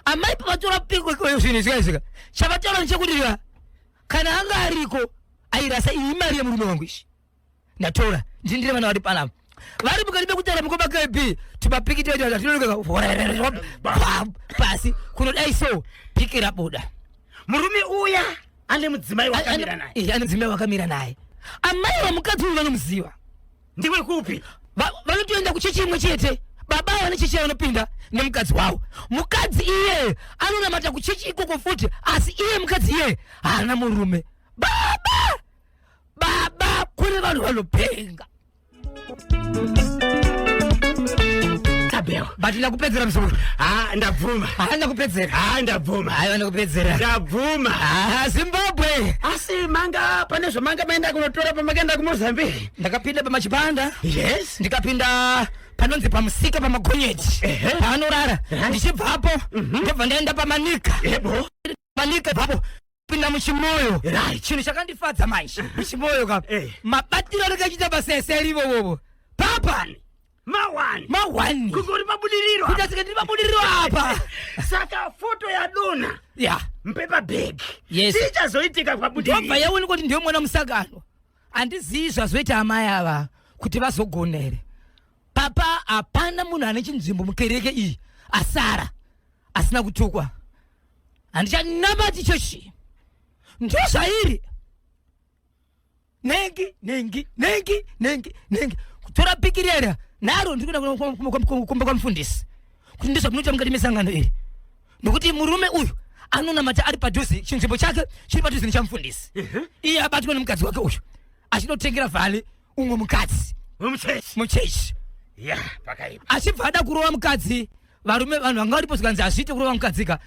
[SPEAKER 2] amai pavatora piko zvinhu izvika izvika chavataura ndechekuti kana anga ariko airasa iyi imari yemurume wangu izvi ndatora ndindire vana vari panapa vari mukati mekutara mukoma kb timapikitetinonokeapasi kunodai so piki rabuda murume
[SPEAKER 1] uya ane mudzimai wakamira naye ane mudzimai wakamira naye
[SPEAKER 2] amai vamukadzi uyu vanomuziva ndiwe kupi
[SPEAKER 1] Va- vanotoenda kuchechi
[SPEAKER 2] imwe chete baba avo vane chechi yavanopinda nemukadzi wavo mukadzi iye anonamata kuchechi ikoko futi asi iye mukadzi iye haana murume baba baba kune vanhu vanopenga tabeo but ndakupedzera msoro ha ndabvuma
[SPEAKER 1] haa ndakupedzera ha
[SPEAKER 2] ndabvuma hayi
[SPEAKER 1] vandakupedzera
[SPEAKER 2] ndabvuma
[SPEAKER 1] haa zimbabwe
[SPEAKER 2] asi manga
[SPEAKER 1] pane zvamanga maenda kunotora pamakaenda kumozambique ndakapinda pamachipanda
[SPEAKER 2] yes ndikapinda panonzi pamusika pamagonyeti Ehe. paanorara Ehe. ndichibvapo ndobva ndaenda pamanika yebo manika bvapo pinda muchimoyo Right. chinhu chakandifadza manje muchimoyo ka Eh. mabatiro andakachiita basa ese arivo vovo papani mawani mahwani kungori mabudiriro
[SPEAKER 1] kuita sika ndiri mabudiriro
[SPEAKER 2] apa saka
[SPEAKER 1] foto yadona ya mpepabhegi Yes. ichazoitika
[SPEAKER 2] ndobva
[SPEAKER 1] pabudiriro yaonekwa kuti ndiyo mwana
[SPEAKER 2] musakano Andizivi zvazoita amai ava kuti vazogona here. Papa hapana munhu ane chinzvimbo mukereke iyi asara asina kutukwa. Handichanamati chechi. Ndozvairi. Nengi, nengi, nengi, nengi, nengi. Kutora pikirera naro ndikuda kumba kwamufundisi. Kuti ndizvamunoita mukati mesangano iri. nokuti murume uyu anonamata ari padhuze chinzvimbo chake chiri padhuze nechamufundisi iye abatwa nemukadzi wake uyu achinotengera vhale umwe mukadzi muchechi
[SPEAKER 1] achibva ada kurova
[SPEAKER 2] mukadzi varume vanhu vanga varipo zvikanzi hazviite kurova mukadzika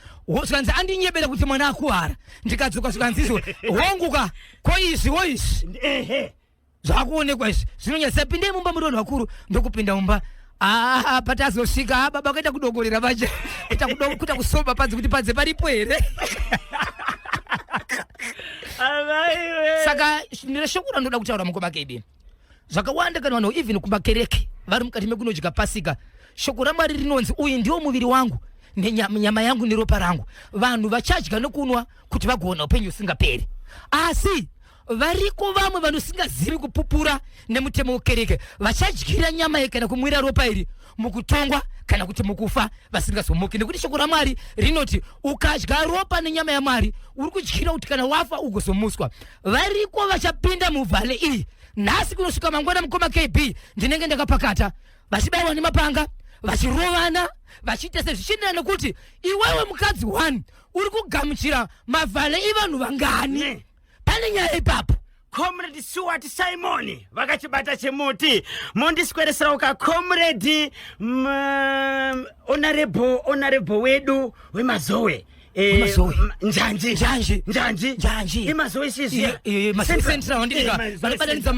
[SPEAKER 2] zvikanzi andinyebera kuti mwana akuwara ndikadzoka zvikanzi izvo honguka ko izvi wo izvi zvakuonekwa izvi zvinonyasa pindei mumba muri vanhu vakuru ndokupinda mumba Ah, patazosvika ah, baba kuita kudongorera vaje kuita kudo- kuita kusoba panze kuti panze paripo here Amaiwe. saka sh- ndine shoko randoda kutaura mukoma kd zvakawanda kana vanhu even kumakereke vari mukati mekunodya pasika shoko ramwari rinonzi uyu ndiwo muviri wangu nenyama nyama yangu neropa rangu vanhu vachadya nokunwa kuti vagoona upenyu husingaperi asi variko vamwe vanosingazivi kupupura nemutemo wekereke vachadyira nyama iyi kana kumwira ropa iri mukutongwa kana kuti mukufa vasingazomuki nekuti shoko ramwari rinoti ukadya ropa nenyama yamwari uri kudyira kuti kana wafa ugozomuswa variko vachapinda muvhale iyi nhasi kunosvika mangwana mukoma kb ndinenge ndakapakata vachibaiwa nemapanga vachirovana vachiita sezvichienderana nekuti iwewe mukadzi one uri kugamuchira mavhale ivanhu vangani pane nyaya ipapo comrade
[SPEAKER 1] suwati simoni vakachibata chemuti mondiswereserawo ka comrade onarebo onarebo wedu wemazowe Eh, njanji njanji njanji njanji imazowe sizia iyo iyo mazowe central
[SPEAKER 2] ndika vanobatanidza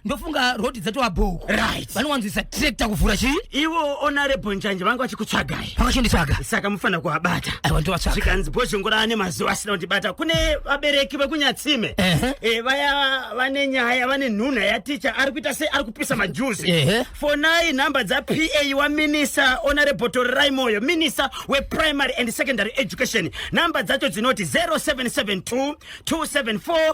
[SPEAKER 2] ndofunga rhodhi dzatova bhoko right vanowanzwisa tractor kuvhura chii ivo honorable
[SPEAKER 1] njanje vanga vachikutsvagai vakachonditsvaga saka
[SPEAKER 2] mufanira kuvabata
[SPEAKER 1] aiwa ndovatsvaga zvikanzi bhozhongora ane mazuva asina kundibata kune vabereki vekunyatsime Ehe. Eh, vaya vane nyaya vane nhunha yaticha ari kuita sei ari kupisa majuzi Ehe. fonai nhamba dzapa waminisa honorable torerai moyo minisa weprimary and secondary education nhamba dzacho dzinoti 0772 274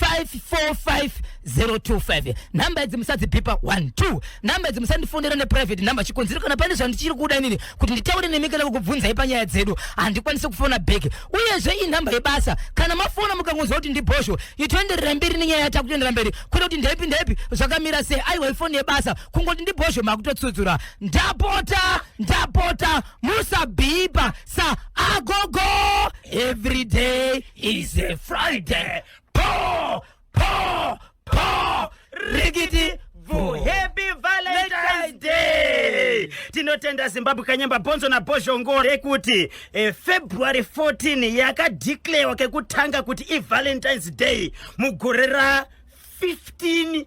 [SPEAKER 2] 545025 nhamba idzi musadzibhipa 12 nhamba idzi musandifonera neprivate nhamba chikonzero kana pane zvandichiri kuda inini kuti nditaure nemi kana kukubvunzai panyaya dzedu handikwanise kufona bheki uyezve inhamba yebasa kana mafona mukangonzwa kuti ndibhosho itoenderera mberi nenyaya yata kutoendera mberi kwete kuti ndaipi ndaipi zvakamira sei aiwa ifoni yebasa kungoti ndibhosho makutotsudzura ndapota ndapota musabhipa sa agogo everyday is a Friday. Paw, paw, paw, rickety boo.
[SPEAKER 1] Happy Valentine's Day! Tinotenda Zimbabwe Kanyemba Bonzo na Bozhongo rekuti eh, February 14 yakadeclarewa kekutanga kuti i Valentine's Day mugore ra 15